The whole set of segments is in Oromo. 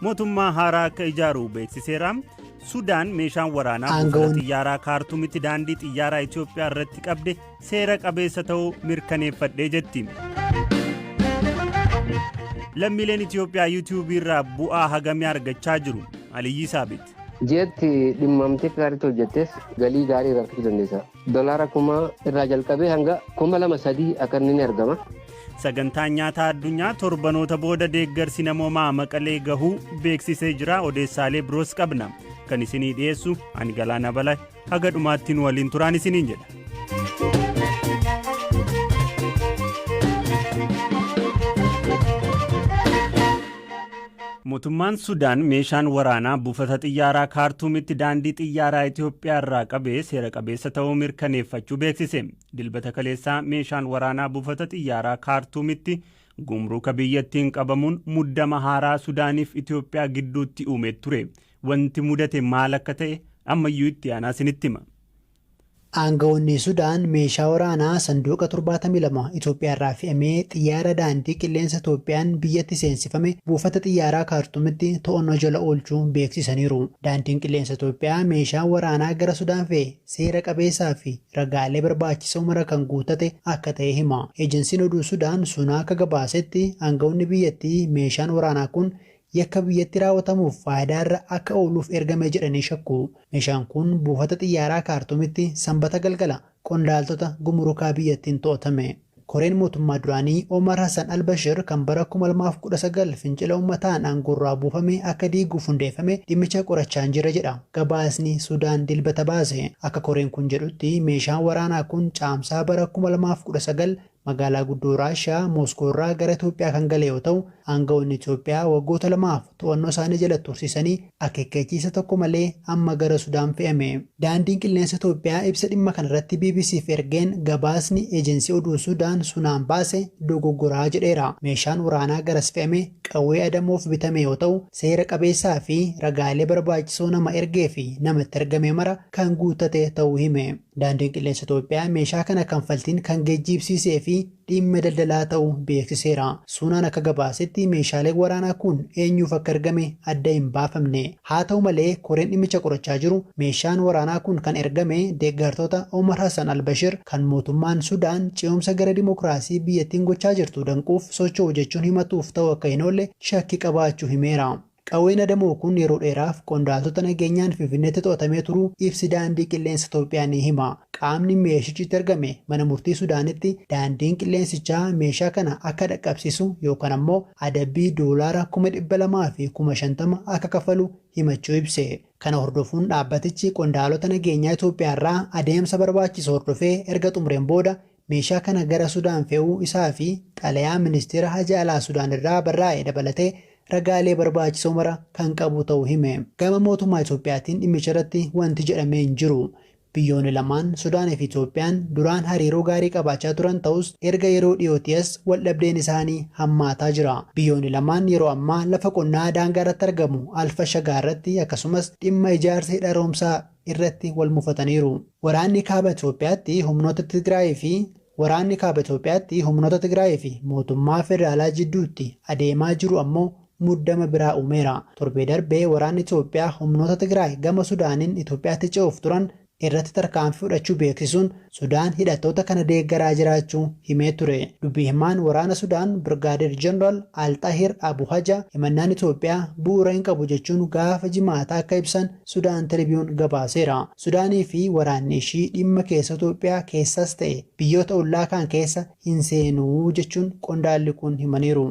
Mootummaa haaraa akka ijaaru beeksiseera. Sudaan meeshaan waraanaa buufata Aangawoonni- xiyyaaraa kaartumitti daandii xiyyaaraa Itoophiyaa irratti qabde seera qabeessa ta'uu mirkaneeffadhee jetti. Lammiileen Itoophiyaa yuutuubii irraa bu'aa hagamii argachaa jiru. Aliyyii Saabit. Ji'atti dhimmamtee akka gaariitti hojjettes galii gaarii irraa argachuu dandeessa. Dolaara kuma irraa jalqabee hanga kuma lama sadii akka inni ni argama. Sagantaan nyaataa addunyaa torbanoota booda deeggarsi namoomaa maqalee gahuu beeksisee jira odeessaalee biroos qabna kan isinii dhiyeessu ani galaana bala haga dhumaatti nu waliin turaan isiniin jedha. Motummaan Sudaan meeshaan waraanaa buufata xiyyaaraa Kaartuumitti daandii xiyyaaraa Itoophiyaa irraa qabe seera qabeessa ta'uu mirkaneeffachuu beeksise. Dilbata kaleessaa meeshaan waraanaa buufata xiyyaaraa Kaartuumitti gumruuka biyyattiin qabamuun muddama haaraa Sudaaniif Itoophiyaa gidduutti uume ture. Wanti mudate maal akka ta'e ammayyuu itti aanaa isinitti hima. Aangawoonni Sudaan meeshaa waraanaa sanduuqa 72 Itoophiyaarraa fe'amee xiyyaara daandii qilleensa Itoophiyaan biyyatti seensifame buufata xiyyaaraa Kaartumitti to'annoo jala oolchuu beeksisaniiru. Daandiin qilleensa Itoophiyaa meeshaan waraanaa gara Sudaan fe'e seera qabeessaa fi ragaalee barbaachisoo mara kan guuttate akka ta'e hima. Eejansiin oduu Sudaan Sunaa akka gabaasetti aangawoonni biyyattii meeshaan waraanaa kun Yakka biyyatti raawwatamuuf faayidaa irra akka ooluuf ergame jedhanii shakku. Meeshaan kun buufata xiyyaaraa Kaartuumitti Sambata galgala qondaaltota gumurukaa biyyattiin to'atame. Koreen mootummaa duraanii Omar Hassan al-Bashir kan bara 2019 fincila ummataan aangoorraa buufame akka diiguuf hundeeffame dhimmicha qorachaa hin jirre jedha gabaasni Sudaan Dilbata baase. Akka koreen kun jedhutti meeshaan waraanaa kun Caamsaa bara 2019 Magaalaa guddoo Raashiyaa Mooskoo irraa gara Itoophiyaa kan gale yoo ta'u, aanga'oonni Itoophiyaa waggoota lamaaf to'annoo isaanii jala tursiisanii akeekkachiisa tokko malee amma gara Sudaan fe'ame. Daandiin Qilleensa Itoophiyaa ibsa dhimma kana irratti BBC'f ergeen gabaasni Ejensii Oduu Sudaan Sunaan baase dogoggoraa jedheera. Meeshaan waraanaa garas fe'ame qawwee adamoof bitame yoo ta'u, seera qabeessaa fi ragaalee barbaachisoo nama ergee fi nama itti argame mara kan guuttate ta'uu hime. Daandiin Qilleensa Itoophiyaa meeshaa kana kanfaltiin kan geejjiibsiisee fi dhiimma daldalaa ta'u beeksiseera. Suunaan akka gabaasetti meeshaaleen waraanaa kun eenyuuf akka ergame adda hin baafamne. Haa ta'u malee koreen dhimmicha qorachaa jiru meeshaan waraanaa kun kan ergame deeggartoota Omar Hassan al-Bashir kan mootummaan Sudaan ce'umsa gara dimokiraasii biyyattiin gochaa jirtu danquuf socho'u jechuun himatuuf ta'uu akka hin oolle shakkii qabaachuu himeera. Qawween adamoo kun yeroo dheeraaf qondaaltota nageenyaan Finfinneetti to'atamee turuu ibsi Daandii Qilleensa Itoophiyaa ni hima. Qaamni meeshichi itti argame mana murtii Sudaanitti daandiin qilleensichaa meeshaa kana akka dhaqqabsiisu yookaan ammoo adabbii doolaara kuma dhibba lamaa fi kuma shantama akka kaffalu himachuu ibse. Kana hordofuun dhaabbatichi qondaalota nageenyaa Itoophiyaarraa adeemsa barbaachisu hordofee erga xumureen booda Meeshaa kana gara Sudaan fe'uu isaa fi xalayaa Ministeera Haja Alaa Sudaan irraa barraa'e dabalatee ragaalee barbaachisoo mara kan qabu ta'uu hime. Gama mootummaa Itoophiyaatiin dhimmicha irratti wanti jedhame hin jiru. Biyyoonni lamaan, Sudaan fi Itoophiyaan, duraan hariiroo gaarii qabaachaa turan ta'us erga yeroo dhiyootii as waldhabdeen isaanii hammaataa jira. Biyyoonni lamaan yeroo ammaa lafa qonnaa daangaa irratti argamu Al-Fashagaa irratti akkasumas dhimma ijaarsa hidha haroomsaa irratti wal mufataniiru. Waraanni Kaaba Itoophiyaatti humnoota Tigraayii fi Waraanni Kaaba Itoophiyaatti humnoota Tigraayii fi mootummaa federaalaa jidduutti adeemaa jiru ammoo muddama biraa uumeera. Torbee darbe waraanni Itoophiyaa humnoota Tigraay gama Sudaaniin Itoophiyaatti ce'uuf turan irratti tarkaanfii fudhachuu beeksisuun Sudaan hidhattoota kana deeggaraa jiraachuu himee ture. Dubbi himaan waraana Sudaan Birgaadeer Jeneraal Al Xahiir Abu Haja himannaan Itoophiyaa bu'uura hin qabu jechuun gaafa Jimaataa akka ibsan Sudaan Tiribiyuun gabaaseera. Sudaanii fi waraanni ishii dhimma keessoo Itoophiyaa keessas ta'e biyyoota ollaa kaan keessa hin seenu jechuun qondaalli kun himaniiru.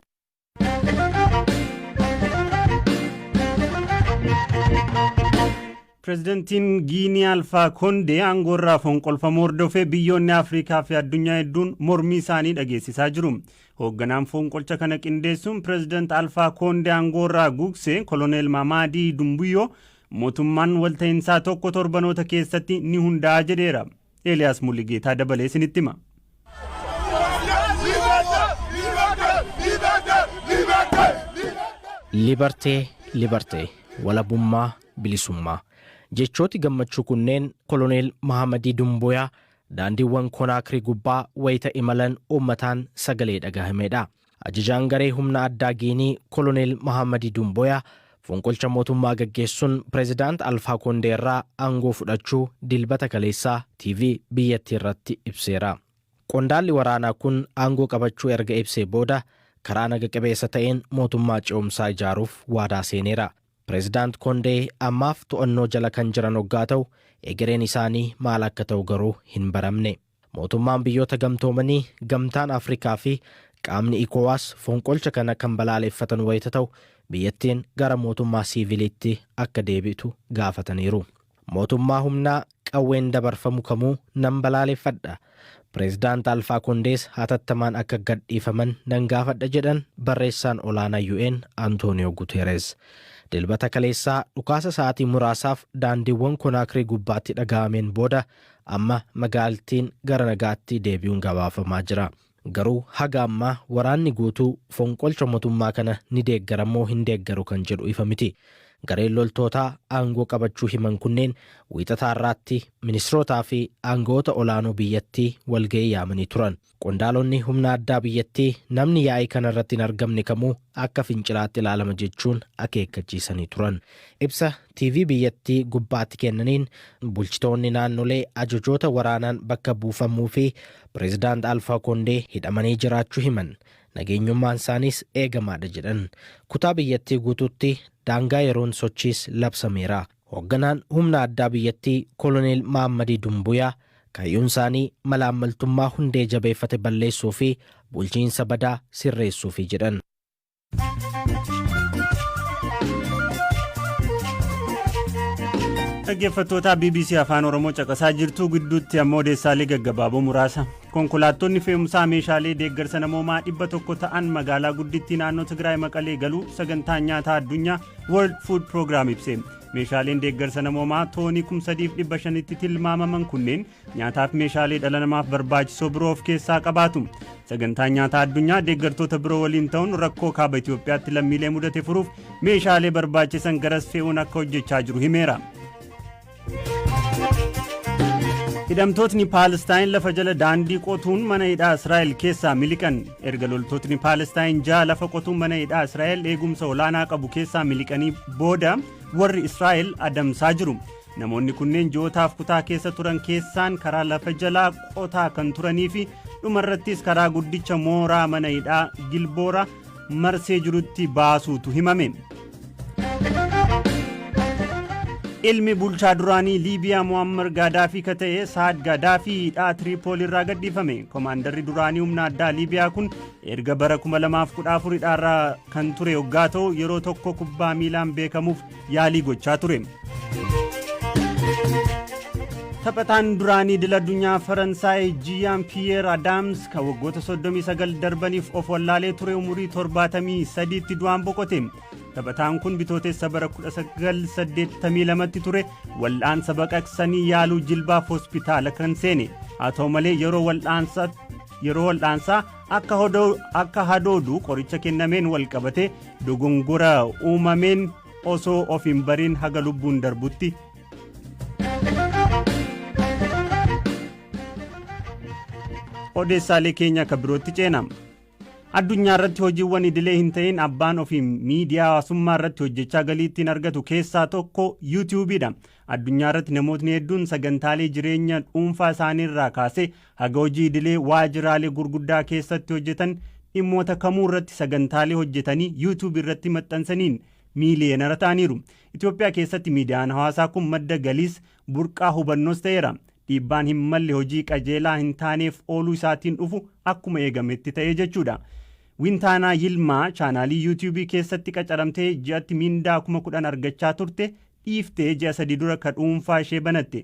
Pireezidantiin Giinii Alfaa Kondee aangoorraa fonqolfamuu hordofee biyyoonni Afrikaa fi addunyaa hedduun mormii isaanii dhageessisaa jiru. Hoogganaan fonqolcha kana qindeessuun Pireezidant Alfaa Koondee aangoorraa guugse Koloneel Maamaadii Dumbuyyoo mootummaan walta'insaa tokko torbanoota keessatti ni hundaa'a jedheera. Eeliyaas Muligeetaa dabalee isinitti hima. Libertee, Libertee, walabummaa, bilisummaa. Jechooti gammachuu kunneen Koloneel Mahamadii Dumbuyaa Daandiiwwan Konaakrii gubbaa wayita imalan uummataan sagalee dhagahameedha. Ajajaan garee humna addaa Giinii Koloneel Mahaammadii Dumbooyaa fonqolcha mootummaa gaggeessuun Pireezidaant Alfaa Koondee irraa aangoo fudhachuu Dilbata kaleessaa TV biyyattii irratti ibseera. Qondaalli waraanaa kun aangoo qabachuu erga ibsee booda karaa naga qabeessa ta'een mootummaa ce'umsaa ijaaruuf waadaa seeneera. Pireezidaant Kondee ammaaf to'annoo jala kan jiran oggaa ta'u, egereen isaanii maal akka ta'u garuu hin baramne. Mootummaan Biyyoota Gamtoomanii, Gamtaan Afrikaa fi qaamni Ecowas fonqolcha kana kan balaaleffatan wayita ta'u, biyyattiin gara mootummaa siiviliitti akka deebi'tu gaafataniiru. Mootummaa humnaa qawween dabarfamu kamuu nan balaaleffadha. Pireezidaant Alfaa Kondees hatattamaan akka gadhiifaman nan gaafadha jedhan Barreessaan Olaanaa UN Antooniyoo Guteereez. Dilbata kaleessaa dhukaasa sa'aatii muraasaaf daandiiwwan Konaakrii gubbaatti dhaga'ameen booda amma magaalttiin gara nagaatti deebi'uun gabaafamaa jira. Garuu haga ammaa waraanni guutuu fonqolcha motummaa kana ni deeggara moo hin deeggaru kan jedhu ifa miti. Gareen loltootaa aangoo qabachuu himan kunneen Wiixata har'aatti ministirootaa fi aanga'oota olaanoo biyyattii walga'ii yaamanii turan. Qondaalonni humna addaa biyyattii namni yaa'ii kana irratti hin argamne kamuu akka fincilaatti ilaalama jechuun akeekkachiisanii turan. Ibsa TV biyyattii gubbaatti kennaniin bulchitoonni naannolee ajajoota waraanaan bakka buufamuu fi Pireezidaant Alfaa Koondee hidhamanii jiraachuu himan. Nageenyummaan isaaniis eegamaadha jedhan. Kutaa biyyattii guutuutti daangaa yeroon sochiis labsameera. Hoogganaan humna addaa biyyattii Koloneel Mahammadii Dumbuyaa kaayyuun isaanii malaammaltummaa hundee jabeeffate balleessuu fi bulchiinsa badaa sirreessuufi jedhan. dhaggeeffattoota bbc afaan oromoo caqasaa jirtu gidduutti ammoo odeessaalee gaggabaaboo muraasa konkolaattonni fe'umsaa meeshaalee deeggarsa namoomaa dhibba tokko ta'an magaalaa guddittii naannoo tigraay maqalee galuu sagantaan nyaataa addunyaa world food program ibse meeshaaleen deeggarsa namoomaa toonii kumsadiif dhibba shanitti tilmaamaman kunneen nyaataaf meeshaalee dhala namaaf barbaachisoo biroo of keessaa qabaatu. Sagantaan nyaataa addunyaa deeggartoota biroo waliin ta'uun rakkoo kaaba Itoophiyaatti lammiilee mudate furuuf meeshaalee barbaachisan garas fe'uun akka hojjechaa jiru himeera. Hidhamtootni Paalestaayin lafa jala daandii qotuun mana hidhaa Israa'el keessaa miliqan. Erga loltootni Paalestaayin ja'a lafa qotuun mana hidhaa Israa'el eegumsa olaanaa qabu keessaa miliqanii booda warri Israa'el adamsaa jiru. Namoonni kunneen ji'ootaaf kutaa keessa turan keessaan karaa lafa jalaa qotaa kan turanii fi dhumarrattis karaa guddicha mooraa mana hidhaa Gilboora marsee jirutti baasuutu himame. Ilmi bulchaa duraanii Liibiyaa Muammar Gaadaafii ka ta'e Saad Gaadaafii hidhaa Tiriipool irraa gadhiifame. Komaandarri duraanii humna addaa Liibiyaa kun erga bara 2014 hidhaarraa kan ture hoggaa ta'u yeroo tokko kubbaa miilaan beekamuuf yaalii gochaa ture. Taphataan duraanii idil addunyaa Faransaay Jiyaan Piyeer Adaams kan waggoota 39 darbaniif of wallaalee ture umurii 73tti du'aan boqote. Taphataan kun bitootessa bara 1982tti ture wal'aansa baqaqsanii yaaluu jilbaaf hospitaala kan seene. Haa ta'u malee yeroo wal'aansaa Akka hodoo- akka hadoodu qoricha kennameen wal qabate dogongora uumameen osoo of hin bariin haga lubbuun darbutti odeessaalee keenya akka birootti ceena. Addunyaa irratti hojiiwwan idilee hin ta'in abbaan ofii miidiyaa hawaasummaa irratti hojjechaa galii ittiin argatu keessaa tokko yuutiyuubiidha. Addunyaa irratti namootni hedduun sagantaalee jireenya dhuunfaa isaanii irraa kaasee Haga hojii idilee waajiraalee gurguddaa keessatti hojjetan dhimmoota kamuu irratti sagantaalee hojjetanii YouTube irratti maxxansaniin miiliyeenara ta'aniiru. Itoophiyaa keessatti miidiyaan hawaasaa kun madda galiis, burqaa hubannoos ta'eera. Dhiibbaan hin malle hojii qajeelaa hin taaneef ooluu isaatiin dhufu akkuma eegametti ta'ee jechuudha. Wintaanaa Yilmaa chaanaalii YouTube keessatti qacaramtee ji'atti miindaa kuma kudhan argachaa turte dhiiftee ji'a sadii dura ka dhuunfaa ishee banatte.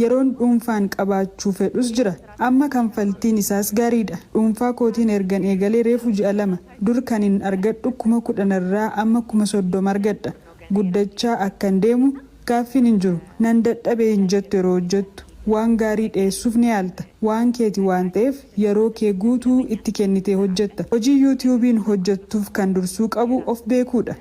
Yeroon dhuunfaan qabaachuu fedhus jira. Amma kanfaltiin isaas gaariidha. Dhuunfaa kootiin ergan eegalee reefu ji'a lama. Dur kanin argadhu kuma kudhanirraa amma kuma soddoma argadha. Guddachaa akkan deemu gaaffiin hin jiru. Nan dadhabe hin jettu yeroo hojjettu. Waan gaarii dhiyeessuuf ni yaalta. Waan keeti waan ta'eef yeroo kee guutuu itti kennitee hojjetta. Hojii Yuutiyuubiin hojjettuuf kan dursuu qabu of beekuudha.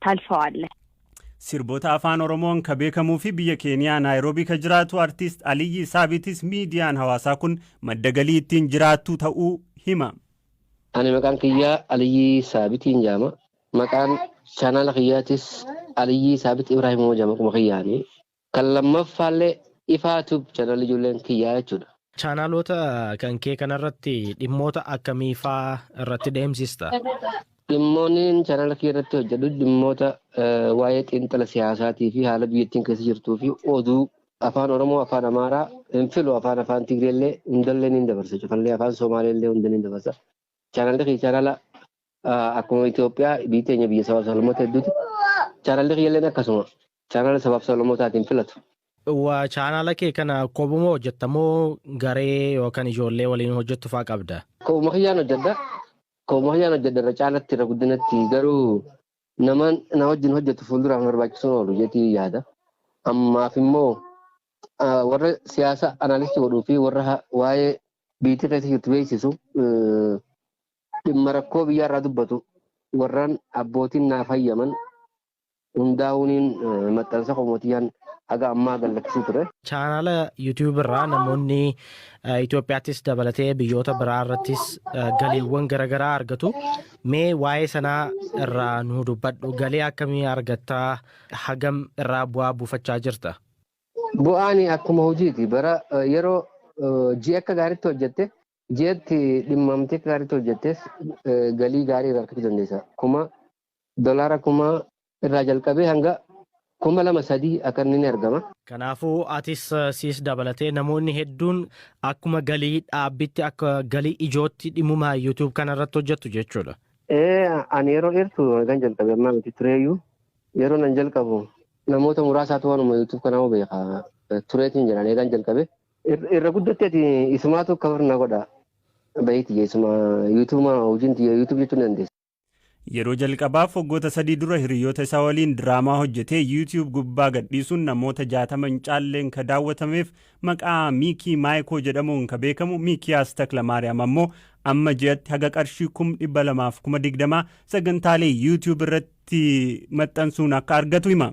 ታልፈዋለህ። Sirboota Afaan Oromoon ka beekamuu fi biyya Keeniyaa Naayiroobii ka jiraatu Artiist Aliyyii Saabitis miidiyaan hawaasaa kun madda galii ittiin jiraattu ta'uu hima. Ani maqaan kiyya Aliyyii Saabitiin jaama. Maqaan chaanaala kiyyaatis Aliyyii Saabit Ibraahim Uuma jaama akkuma kiyyaani. Kan lammaffaallee Ifaa Tube channel ijoolleen kiyyaa jechuudha. Chaanaloota kan kee kanarratti dhimmoota akkamii faa irratti deemsista? Dhimmoonniin channel kiyya irratti hojjedhu dhimmoota waa'ee xiinxala siyaasaatii fi haala biyyattiin keessa jirtuu fi oduu afaan Oromoo, afaan Amaaraa, hin filu afaan afaan Tigreellee hundallee niin dabarsa cufallee afaan Somaaleellee hunda niin dabarsa. Chaanalli kiyya chaanala akkuma Itoophiyaa biyyi teenya biyya sabaaf sablammoota hedduuti. Chaanalli kiyyalleen akkasuma chaanala sabaaf sablammootaatiin filatu. Waa chaanala kee kana kophuma hojjetta moo garee yookaan ijoollee waliin hojjettu fa'aa qabda? Kophuma kiyyaan hojjedha. Kophuma kiyyaan hojjedha irra caalatti irra guddinatti garuu nama na wajjin hojjetu fuulduraaf barbaachisuun oolu jetii yaada. Ammaaf immoo warra siyaasa anaalistii godhuu fi warra waa'ee biyyi keessa jirtu beeksisu Dhimma rakkoo biyyaarraa dubbatu warran abbootiin naaf hayyaman hundaahuuniin maxxansa koo Mootiyyaan haga ammaa gad lakkisee ture. Chaanaala YouTube irraa namoonni Itoophiyaattis dabalatee biyyoota biraa irrattis galiiwwan garaagaraa argatu. Mee waa'ee sanaa irraa nu dubbadhu. Galii akkamii argattaa? Hagam irraa bu'aa buufachaa jirta? Bu'aan akkuma hojiiti. Bara yeroo ji'a akka gaariitti hojjette Jeetti dhimmamtee akka gaariitti hojjettes galii gaarii irraa argachuu dandeessa. Kuma dolaara kuma irraa jalqabee hanga kuma lama sadii akka inni ni argama. Kanaafuu atis siis dabalatee namoonni hedduun akkuma galii dhaabbitti akka galii ijootti dhimmuma YouTube kana irratti hojjettu jechuudha. Ee ani yeroo dheertu kan jalqabe ammaa miti tureeyyuu yeroo nan jalqabu namoota muraasaatu waanuma YouTube kanaa beeka tureetiin jedhan eegaan jalqabe Irra guddatti ati isumaatu cover na godha. Bahii tiyya isuma YouTube hojiin tiyya YouTube jechuun ni dandeessa. Yeroo jalqabaaf waggoota sadii dura hiriyoota isaa waliin diraamaa hojjetee YouTube gubbaa gadhiisuun namoota 60 hin caalleen ka daawwatameef maqaa Miikii Maayikoo jedhamuun ka beekamu Miikiyaas Taklamaariyaam ammoo amma ji'atti haga qarshii kum 200 fi kuma 20 sagantaalee YouTube irratti maxxansuun akka argatu hima.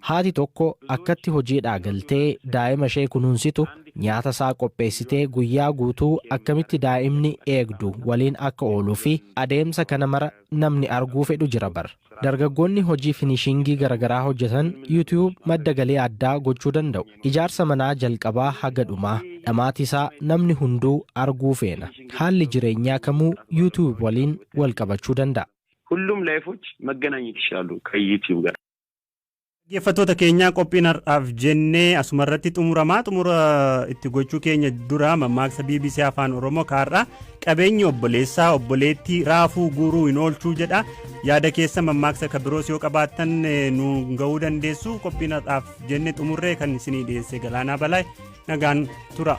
Haati tokko akkatti hojiidhaa galtee daa'ima ishee kunuunsitu, nyaata isaa qopheessitee guyyaa guutuu akkamitti daa'imni eegdu waliin akka ooluu fi adeemsa kana mara namni arguu fedhu jira bar. Dargaggoonni hojii finishingii garagaraa hojjetan YouTube madda galii addaa gochuu danda'u. Ijaarsa manaa jalqabaa haga dhumaa, dhamaati isaa namni hunduu arguu feena. Haalli jireenyaa kamuu YouTube waliin wal qabachuu danda'a. Hullum layifoch magganaanyit yishalu kan YouTube gara. Dhaggeeffattoota keenyaa qophiin har'aaf jennee asuma irratti xumuramaa xumura itti gochuu keenya dura mammaaksa BBC Afaan Oromoo kaarraa qabeenyi obboleessaa obboleettii raafuu guuruu hin oolchuu jedha yaada keessa mammaaksa kan biroos yoo qabaattan nu ga'uu dandeessu qophiin har'aaf jenne xumurree kan isinii dhiyeesse galaanaa balaay nagaan tura.